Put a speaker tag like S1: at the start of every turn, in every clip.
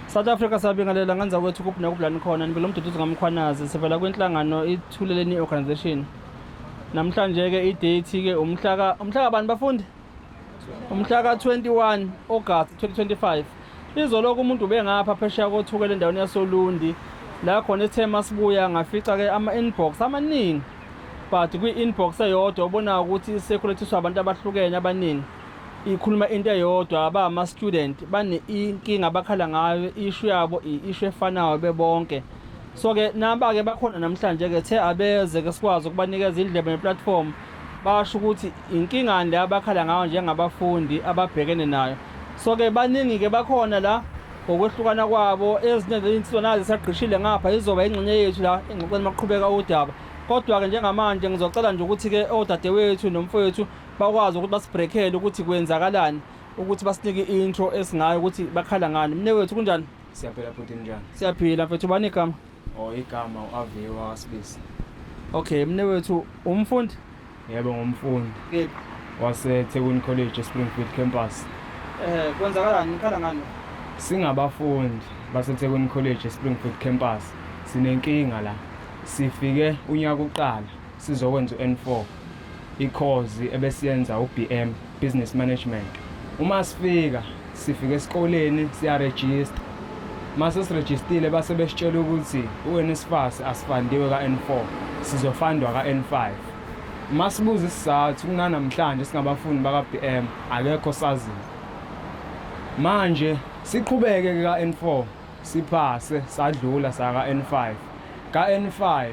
S1: South Africa sabingelela ngenza kwethu kuphi nekubulani khona nibelo mduduzi ngamkhwanazi sivela kwinhlangano ithuleleni organization namhlanje ke idate ke umhlaka umhlaka bani bafundi umhlaka 21 August 2025 izoloko umuntu ubengapha phesheya kothukela endaweni yasolundi la khona ithema sibuya ngafica ke ama inbox amaningi but kwi inbox eyodwa ubona ukuthi isekulethiswa abantu abahlukene abaningi ikhuluma into eyodwa aba ama student bane inkinga bakhala ngayo issue yabo issue efanayo bebonke so ke naba ke bakhona namhlanje ke the abeze ke sikwazi ukubanikeza indlebe ne platform basho ukuthi inkinga le abakhala ngayo njengabafundi ababhekene nayo so ke baningi ke bakhona la ngokwehlukana kwabo ezinye zezinsizwa nazo zisagqishile ngapha izoba ingxenye yethu la engxoxweni maqhubeka udaba kodwa ke njengamanje ngizocela nje ukuthi ke odadewethu nomfowethu bakwazi ukuthi basibrekhele ukuthi kwenzakalani ukuthi basinike i-intro esingayo ukuthi bakhala ngani mne wethu kunjani siyaphila futhi njani
S2: siyaphila mfethu ubani
S1: igama o oh, igama
S2: u-aviwe wakasibisi okay mne
S1: wethu umfundi yebo
S2: ngumfundi
S1: wasethekwini
S2: college espringfield campus um kwenzakalani
S1: nikhala ngani singabafundi
S2: basethekwini college espringfield campus sinenkinga la sifike unyaka uqala sizokwenza u-n four ikhozi ebesiyenza uBM Business Management uma sifika sifika esikoleni siyaregister mase sirejistile base besitshela ukuthi uNSFAS asifandiwe ka-N4 sizofandwa ka-N5 masibuza isizathu kunanamhlanje singabafundi baka-BM akekho saziyo manje siqhubeke ka-N4 siphase sadlula saka-N5 ka-N5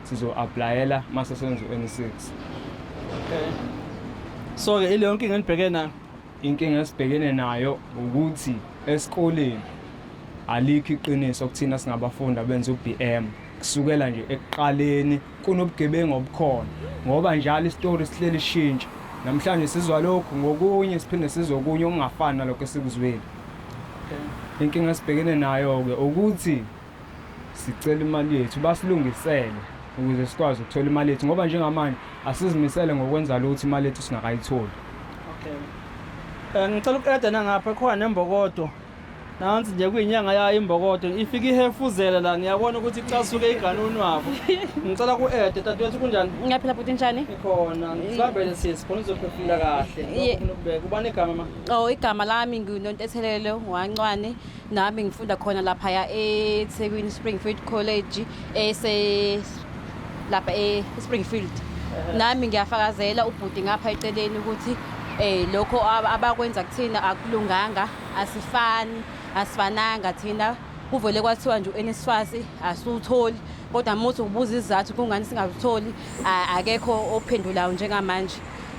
S2: sizo-aplayela uma sesenzweni 6 okay.
S1: so-ke ileyo nkinga enibheke nayo inkinga esibhekene
S2: nayo ukuthi esikoleni alikho iqiniso kuthina singabafundi abenza u-b m kusukela nje ekuqaleni kunobugebengu obukhona ngoba njalo isitori sihleli shintsha namhlanje sizwa lokhu ngokunye siphinde sizwe okunye okungafani nalokho esikuzwile
S1: inkinga esibhekene
S2: nayo-ke ukuthi sicela imali yethu basilungisele ukuze sikwazi ukuthola imali yethu ngoba njengamanje asizimisele ngokwenza lutho imali yethu singakayitholi okay
S1: eh ngicela ukuqeda nangapha khona nembokodo nansi nje kuyinyanga yayo imbokodo ifika ihefuzela la ngiyabona ukuthi icasuke iganuni wabo ngicela ku-ede dadewethu kunjani ngiyaphila bhuti njani
S3: ikhona sibambele
S1: sisi khona uzophefumula kahle Ye- ukubeka ubani igama ma o Oh, igama lami
S3: nginontethelelo wancwane nami ngifunda khona laphaya eThekwini Springfield College ese lapha eSpringfield nami ngiyafakazela ubhuti ngapha eceleni ukuthi eh lokho abakwenza kuthina akulunganga asifani asifananga thina kuvele kwathiwa nje uNSFAS asutholi kodwa muthi ubuza izizathu kungani singakutholi akekho ophendulayo njengamanje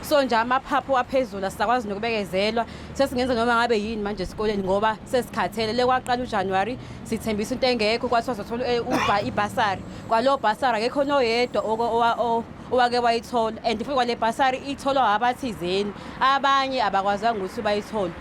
S3: so nje amaphaphu aphezulu asakwazi nokubekezelwa sesingenza noma ngabe yini manje esikoleni ngoba sesikhathele le kwaqala uJanuary sithembisa into engekho kwathiwa sothola eh, uba ibhasari kwalo bhasari akekho noyedwa owake wayithola and futhi kwale bhasari itholwa abathizeni abanye abakwazanga ukuthi bayithole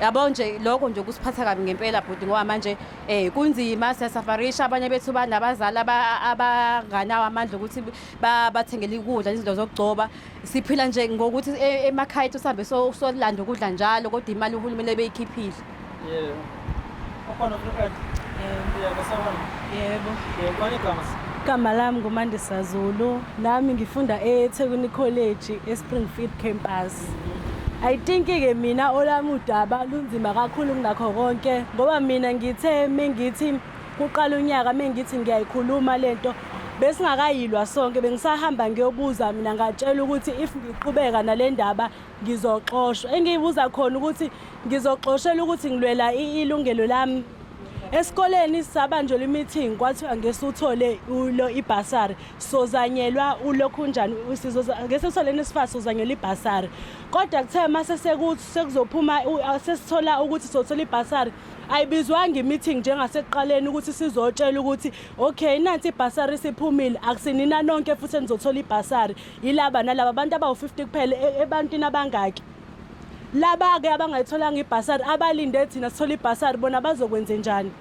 S3: yabo nje lokho nje kusiphatha kabi ngempela bhuti ngoba manje eh kunzima siyasafarisha abanye bethu banabazali abanganawo amandla ukuthi bathengele ikudla izinto zokugcoba siphila nje ngokuthi e- emakhaya ethu sihambe so- solanda ukudla njalo kodwa imali uhulumeni ebeyikhiphile Yeah.
S1: Ukhona ofuna uku-add? Yeah, kusawona.
S3: Yebo. Yeah, ubani igama?
S1: Igama lami
S4: nguMandisa Zulu. Nami ngifunda eThekwini College eSpringfield campus. I think ke mina olami udaba lunzima kakhulu kunakho konke ngoba mina ngithe mengithi Kuqala unyaka mengithi ngiyayikhuluma lento besingakayilwa sonke bengisahamba ngiyobuza mina ngatshela ukuthi if ngiqhubeka nale ndaba ngizoxoshwa engiyibuza khona ukuthi ngizoxoshela ukuthi ngilwela ilungelo lami esikoleni sabanjelwa i-meeting kwathiwa ngese uthole ulo ibhasari sozanyelwa ulokhu njani ngese uthole nesifasi sozanyelwa ibhasari kodwa kuthe uma sesekuzophuma sesithola ukuthi sothola ibhasari ayibizwanga i-meeting njengasekuqaleni ukuthi sizotshela ukuthi okay nansi ibhasari siphumile akusinina nonke futhi enizothola ibhasari yilaba nalaba abantu abawu-50 kuphela e-, ebantwini abangaki laba-ke abangayitholanga ibhasari abalinde thina sithole ibhasari bona bazokwenze njani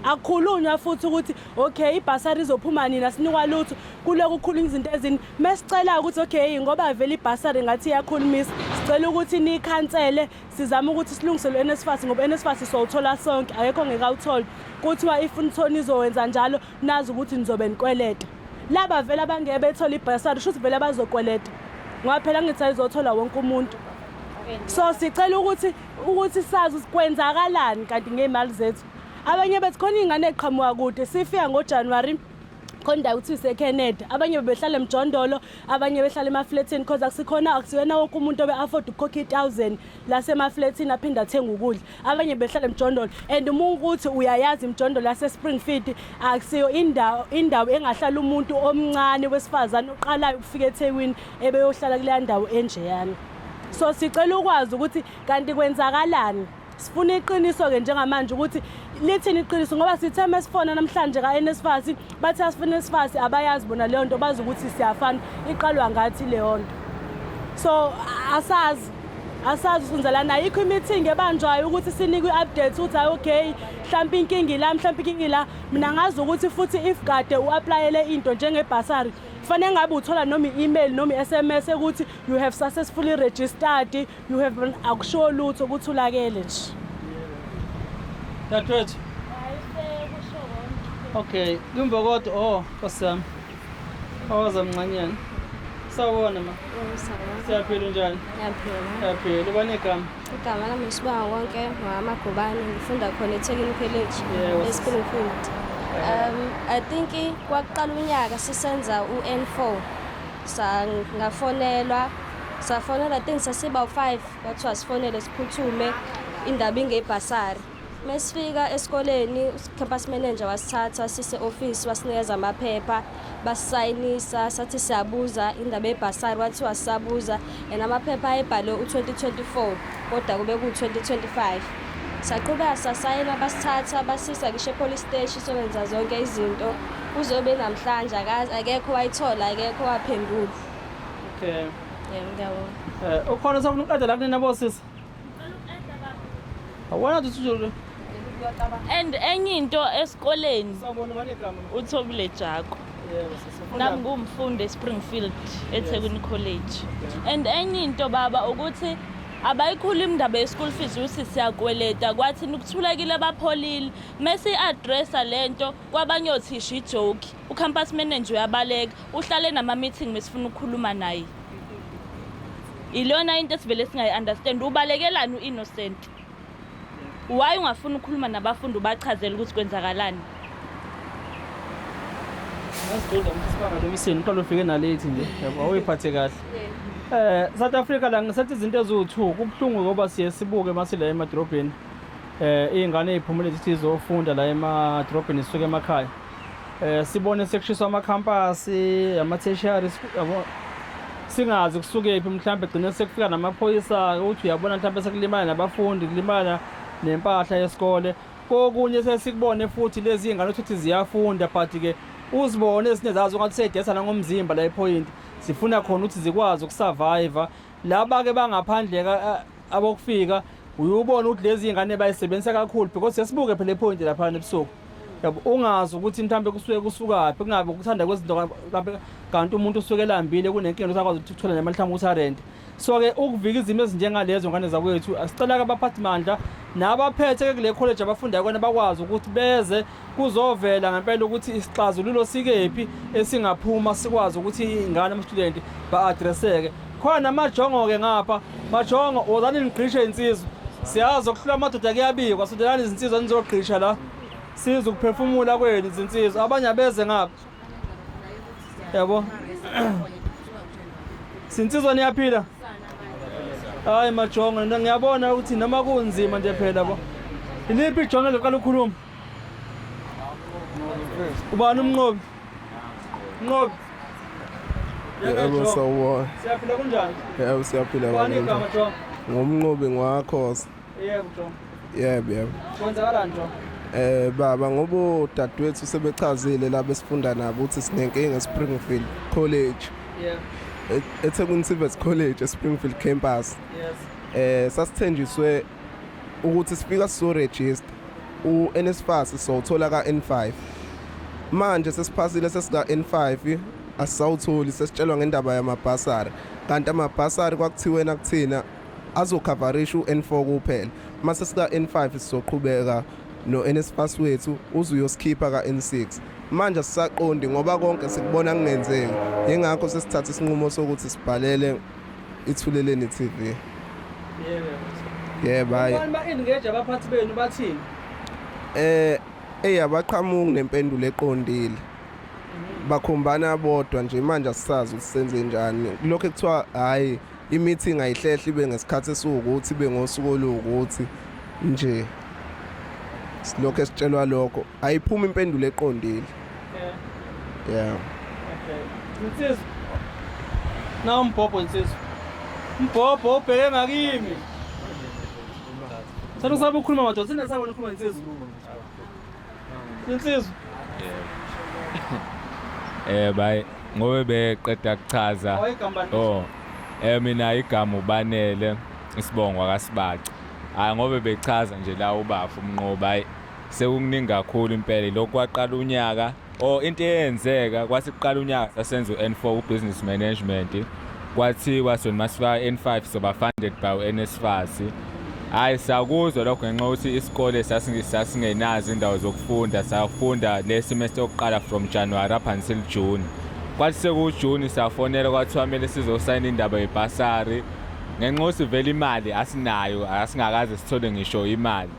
S4: akukhulunywa futhi ukuthi okay ibhasari izophuma nina sinikwa lutho kuloku kukhulunywa izinto ezini mesicela ukuthi okay ngoba vele ibhasari ngathi iyakhulumisa sicela ukuthi nikhansele sizama ukuthi silungiselwe NSFAS ngoba NSFAS sowuthola sonke akekho ngeke awuthole kuthiwa if nithona izowenza njalo nazi ukuthi nizobe nikweleta laba vele abangeke bethole ibhasari shuthi vele abazokweleta ngoba phela ngithi ayizothola wonke umuntu so sicela ukuthi ukuthi sazi kwenzakalani kanti ngey'mali zethu abanye bethi khona iy'ngane eqhamuka kude sifika ngojanuwari khona ukuthi iseKeneda abanye bebehlala emjondolo abanye behlala emafletini because akusikhona akusiyena wonke umuntu obe afford ukukhokha i1000 lasemafletini aphinda athenga ukudla abanye behlala emjondolo and uma ukuthi uyayazi imjondolo yase Springfield akusiyo indawo indawo engahlala umuntu omncane wesifazane oqalayo ukufika eThekwini ebeyohlala kule ndawo enjeyana so sicela ukwazi ukuthi kanti kwenzakalani sifuna iqiniso-ke njengamanje ukuthi lithini iqiniso ngoba sithe uma sifona namhlanje ka-nsfas bathi asifuna nsfas abayazi bona leyo nto bazi ukuthi siyafana iqalwa ngathi leyo nto so asazi asazi usunzelana ayikho imithingi ebanjwayo ukuthi sinikwe i-update ukuthi hayi okay mhlawumpe inkinga ila mhlawumpe inkinga ila mina ngazi ukuthi futhi if kade u-aplayele into njengebhasari kufanele ngabe uthola noma i-email noma i-s m s ukuthi you have successfully registered You have been akusho lutho ukuthi ulakele nje.
S1: Dadwethu. Okay, kumbe kodwa oh kosami. Awaza mncanyana. Sawona ma. Siyaphila unjani? Ngiyaphila. Siyaphila. Ubani igama? Igama lami ngisibawa
S5: konke ngama Gobane ngifunda khona eThekwini College eSpring Field. Um I think kwaqala unyaka sisenza uN4. sangafonelwa safonela i think sasibawu-five kwathiwa sifonele siphuthume indaba ingebhasari uma sifika esikoleni ucampus manager wasithatha wasise-ofisi wasinikeza amaphepha basisayinisa sathi siyabuza indaba yebhasari wathiwa sisabuza and amaphepha ayebhalwe u-2024 kodwa kube ku-2025 saqhubeka sasayela basithatha basisa ngisho epolice steshi sobenza zonke izinto kuze ube namhlanje akekho wayithola akekho waphendula
S1: okay yebo ngiyabonga
S5: um ukhona sokunuqeda
S1: la kunina bosisi Awona tutsuzulu.
S6: And enye into esikoleni
S1: uthobile Jako. Nami ngumfundi
S6: eSpringfield eThekwini College. And enye into baba ukuthi abayikhulu imndaba ye-school fees ukuthi siyakweleta kwathini ukuthulekile abapholile mese i-addressa lento kwabanye othisha ijoki ucampus manager uyabaleka uhlale nama-meeting besifuna ukukhuluma naye ilona into esivele singayi-understand ubalekelani u-innocent why ungafuni ukukhuluma nabafundi ubachazela ukuthi kwenzakalani
S1: uqala ufike nalethi nje yabo awuyiphathe kahle um south africa la ngisethi izinto eziwu-two kubuhlungu ngoba siye sibuke uma sila emadorobheni um iy'ngane ey'phumule zithi zofunda la emadorobheni zisuke emakhaya eh sibone sekushiswa amakhampasi amatheshari yabo singazi kusukephi mhlawumbe gcine sekufika namaphoyisa uthi uyabona mhlawumbe sekulimala nabafundi kulimala nempahla yesikole kokunye sesikubone futhi lezi ingane ukuthi ziyafunda but ke uzibone ezinye zazo ngathi seyidesa nangomzimba la iphoyinti zifuna khona ukuthi zikwazi ukusurvive laba ke bangaphandle abokufika uyubona ukuthi lezi ingane bayisebenzisa kakhulu because sesibuke phela ipoint laphana ebusuku yabo ungazi ukuthi mhlawumbe kusuke kusukaphi kungabe ukuthanda kwezinto mhlawumbe kanti umuntu usuke elambile kunenkinga ukuthi akwazi ukuthi uthole nemali mhlawumbe ukuthi arente so-ke ukuvika izimo ezinjengalezo ngane zakwethu asicela-ke abaphathi mandla nabaphethe-ke kule college abafundayo kona bakwazi ukuthi beze kuzovela ngempela ukuthi isixazululo sikephi esingaphuma sikwazi ukuthi ingane amastudenti ba-adreseke khona amajongo-ke ngapha majongo wozani nigqishe insizwa siyazi okuhlula amadoda kuyabikwa sondelani izinsizwa nizogqisha la siza ukuphefumula kwenu izinsizwa abanye abeze ngapha yabo sinsizwa niyaphila hayi majongo ngiyabona ukuthi noma kunzima nje phela bo iliphi ijongo eliqala ukukhuluma ubani umnqobi mnqobi
S7: yebo sawubona siyaphila kunjani yebo
S1: siyaphila ubani
S7: igama jo
S1: ngumnqobi ngwakhosa
S7: yebo jo yebo yebo kwenzakalani
S1: jo eh baba
S7: ngoba udadewethu sebechazile la besifunda nabo ukuthi sinenkinga eSpringfield College yebo
S1: eThekwini
S7: Civics College eSpringfield campus yes eh
S1: sasithenjiswe
S7: ukuthi sifika sizoregister uNSFAS sowuthola kaN5 manje sesiphasile sesika N5 asisawutholi sesitshelwa ngendaba yamabhasari kanti amabhasari kwakuthiwe nakuthina azokhavarisha uN4 kuphela mase sika N5 sizoqhubeka noNSFAS wethu uzuyosikhipha kaN6 manje sisaqondi ngoba konke sikubona kungenzeki yingakho sesithatha isinqumo sokuthi sibhalele Ithuleleni TV. Yebo.
S1: Yebo hayi. Abantu ba-engage
S7: abaphathi
S1: benu bathini? Eh eyi
S7: abaqhamuki nempendulo eqondile. Bakhombana bodwa nje manje asisazi ukuthi senze njani. Lokho ekuthiwa hayi i-meeting ayihlehle ibe ngesikhathi esiwukuthi ibe ngosuku oluwukuthi nje. Silokho esitshelwa lokho. Ayiphumi impendulo eqondile. Yeah. Okay.
S1: Nsizwa. Na umbhobho nsizwa. Umbhobho ubheke ngakimi. Sanu sabe ukhuluma madoda, sina sabe ukhuluma nsizwa. Nsizwa.
S8: Eh bay ngobe beqeda kuchaza. Oh. Eh mina igama ubanele isibongo akasibaca. Hayi ngobe bechaza nje la ubafu umnqoba hayi Sekukuningi kakhulu impela lokhu kwaqala unyaka or oh, into eyenzeka kwathi kuqala unyaka sasenza u-N4 ubusiness management kwathiwa sona masifika N5 soba funded by uNSFAS hayi sakuzwa lokho ngenxa ukuthi isikole sasingenazo indawo zokufunda safunda le semester yokuqala from January up until June kwathi sekuwujuni safonela kwathiwa kumele sizosayina indaba yebhasari ngenxa ukuthi vele imali asinayo asingakaze sithole ngisho imali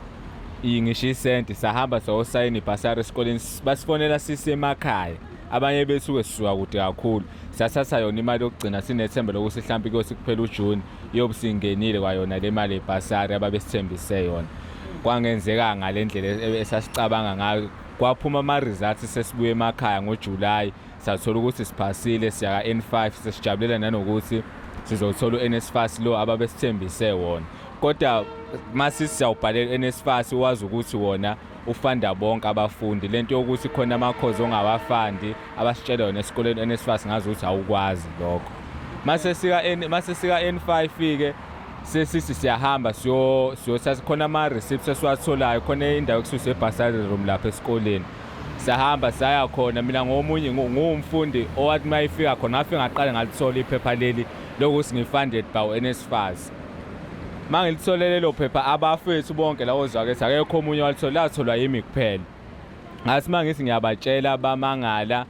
S8: iyi ngisho isenti sahamba sayosayina ibhasari esikoleni basifonela sisemakhaya abanye besuke sisuka kude kakhulu sathatha yona imali yokugcina sinethemba lokuthi mhlawumpe kuyothi kuphela ujuni iyobe singenile kwayona le mali yebhasari ababesithembise yona kwangenzeka ngale ndlela e-, esasicabanga ngayo kwaphuma ama-results sesibuye emakhaya ngojulayi sathola ukuthi siphasile siya ka N5 sesijabulela nanokuthi sizothola uNSFAS lo ababesithembise wona kodwa mase siyawubhalela uNSFAS wazi ukuthi wona ufanda bonke abafundi lento yokuthi khona amakhozi ongawafandi abasitshela yona esikoleni uNSFAS ngazi ukuthi awukwazi lokho mase sika mase sika N5 ke sesithi siyahamba siyo siyothatha khona ama receipts esiwatholayo khona indawo ekususa ebhasari room lapha esikoleni siyahamba saya khona mina ngomunye nguwumfundi owathi uma ifika khona ngafike ngaqale ngalithola iphepha leli lokuthi ngi-funded by u-nsfas uma ngilithole lelo phepha abafethu bonke lawo zakethi akekho omunye walithola latholwa yimi kuphela ngathi uma ngithi ngiyabatshela bamangala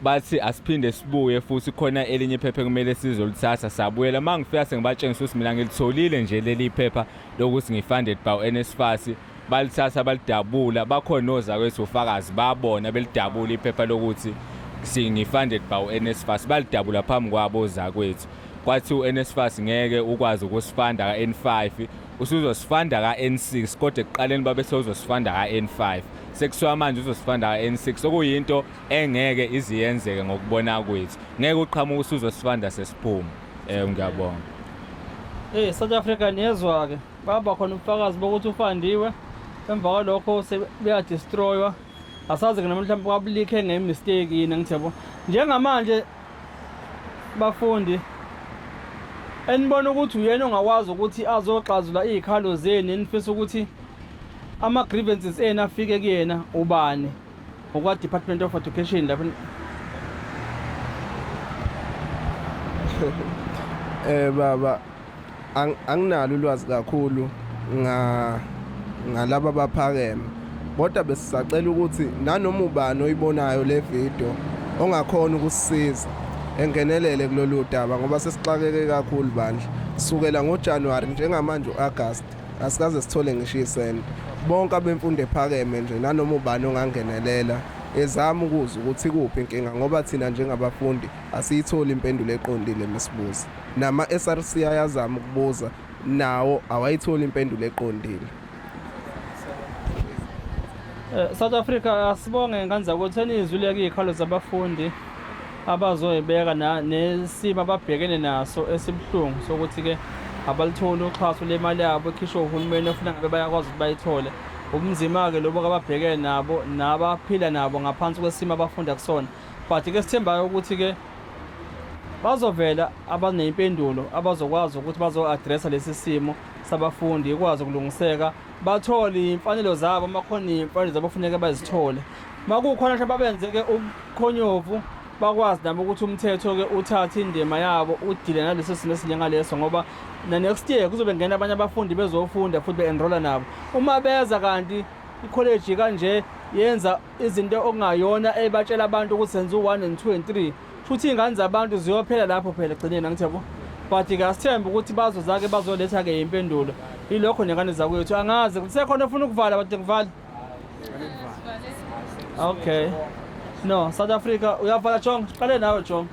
S8: bathi asiphinde sibuye futhi khona elinye iphepha ekumele sizolithatha sabuyela uma ngifika sengibatshengisa ukuthi mina ngilitholile nje leli phepha lokuthi ngi-funded by u-nsfas balithatha balidabula bakhona ozakwethu ufakazi babona belidabula iphepha lokuthi singi-funded by u-nsfas balidabula phambi kwabo ozakwethu kwathi u-nsfas ngeke ukwazi ukusifanda ka-n five usuzosifanda ka-n six kodwa ekuqaleni babethe uzosifanda ka-n five sekuthiwa manje uzosifanda ka-n six okuyinto engeke iziyenzeke ngokubona kwethu ngeke uqhamuka usuzosifanda sesiphuma um ngiyabonga
S1: Eh South Africa niyezwa ke. baba khona ubufakazi bokuthi ufandiwe emva kwalokho sebeyadestroywa asazi ke noma mhlawumbe kwabulikhe ngemistake yini angithi yabo njengamanje bafundi enibona ukuthi uyena ongakwazi ukuthi azoxazula iy'khalo zenu enifisa ukuthi ama-grievances enu afike kuyena ubani Ngokwa Department of Education lapho
S7: eh baba anginalo ulwazi kakhulu nga ngalaba baphakeme kodwa besisacela ukuthi nanoma ubani oyibonayo le video ongakhona ukusisiza engenelele kulolu daba ngoba sesixakeke kakhulu bandla sukela ngoJanuary njengamanje uAugust asikaze sithole ngisho isenti bonke abemfundo ephakeme nje nanoma ubani ongangenelela ezama ukuzwa ukuthi kuphi inkinga ngoba thina njengabafundi asiyitholi impendulo eqondile misibuza nama-src ayazama ukubuza nawo awayitholi impendulo eqondile
S1: eh, South Africa asibonge ngane zakwethu enizwile ke ikhalo zabafundi abazoyibeka nesimo ababhekene naso esibuhlungu sokuthi-ke abalitholi uxhaso lemali yabo ekhishwe uhulumeni ofuna ngabe bayakwazi ukuthi bayithole ubunzima-ke lobo kababhekene nabo nabaphila nabo ngaphansi kwesimo abafunda kusona but-ke sithembayo ukuthi-ke bazovela abaneyimpendulo abazokwazi ukuthi bazo-adressa lesi simo sabafundi ikwazi ukulungiseka bathole iy'mfanelo zabo uma khona iy'mfanelo zabo funeke bazithole uma kukhona nje babenze-ke ubukhonyovu bakwazi nabo ukuthi umthetho-ke uthathe indima yabo udile naleso simo esinjengaleso ngoba na-next year kuzobe ngena abanye abafundi bezofunda futhi be-enrola nabo uma beza kanti ikholeji kanje yenza izinto okungayona ebatshela abantu ukuthi senza u-one and two and three futhi iy'ngane zabantu ziyophela lapho phela ekugcineni angithi yabo but ke asithembe ukuthi bazozake bazoletha-ke impendulo ilokho nengane zakwethu angazi ukuthi sekhona ofuna ukuvala bade ngivale okay no south africa uyavala jong qale nawe jong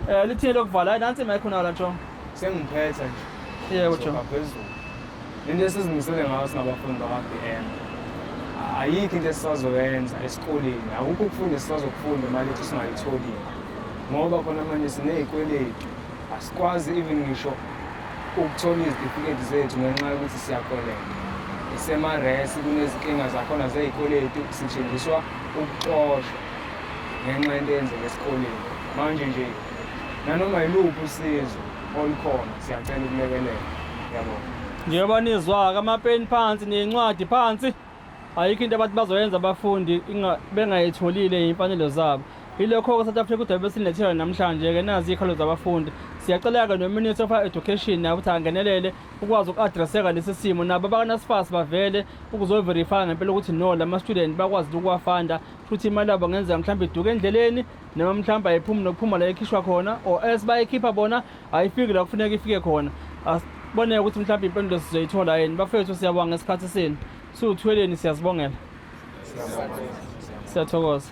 S1: um lithini lokuvala hayi nansi imayikho nawo la jong sengiphetha
S2: nje yebo jong Soka
S1: phezulu
S2: Le nto esizimisele ngayo singabafundi bakwa-BM ayikho into esisazoyenza esikoleni akukho ukufunda esisazokufunda imali ethu singayitholile ngoba khona manje siney'kweletu asikwazi even ngisho ukuthola izitifiketi zethu ngenxa yokuthi siyakoleka isemaresi kunezinkinga zakhona zey'kweletu sithenjiswa ukuxoshwa ngenxa yento eyenzeka esikoleni manje nje nanoma yiluphi usizo olukhona siyacela ukulekelela yabo njengoba
S1: nizwa-ke amapeni phansi neyincwadi phansi ayikho into abantu bazoyenza abafundi bengayitholile iy'mfanelo zabo yilokho-ke south africa udaba besilethela namhlanje-ke nazi iy'khalo zabafundi siyacela-ke nominister of education naye ukuthi angenelele ukwazi uku-adresseka lesi simo nabo abakanasifasi bavele ukuzoverifya ngempela ukuthi no la ma-student bakwazi ukuwafanda futhi imali yabo ngenzeka mhlawumbe iduke endleleni noma mhlawumbe ayiphumi nokuphuma la ekhishwa khona or else bayikhipha bona ayifiki la kufuneka ifike khona asiboneke ukuthi mhlawumbe impendulo sizoyithola yini bafethu siyabonga ngesikhathi senu siwuthweleni siyazibongela siyathokoza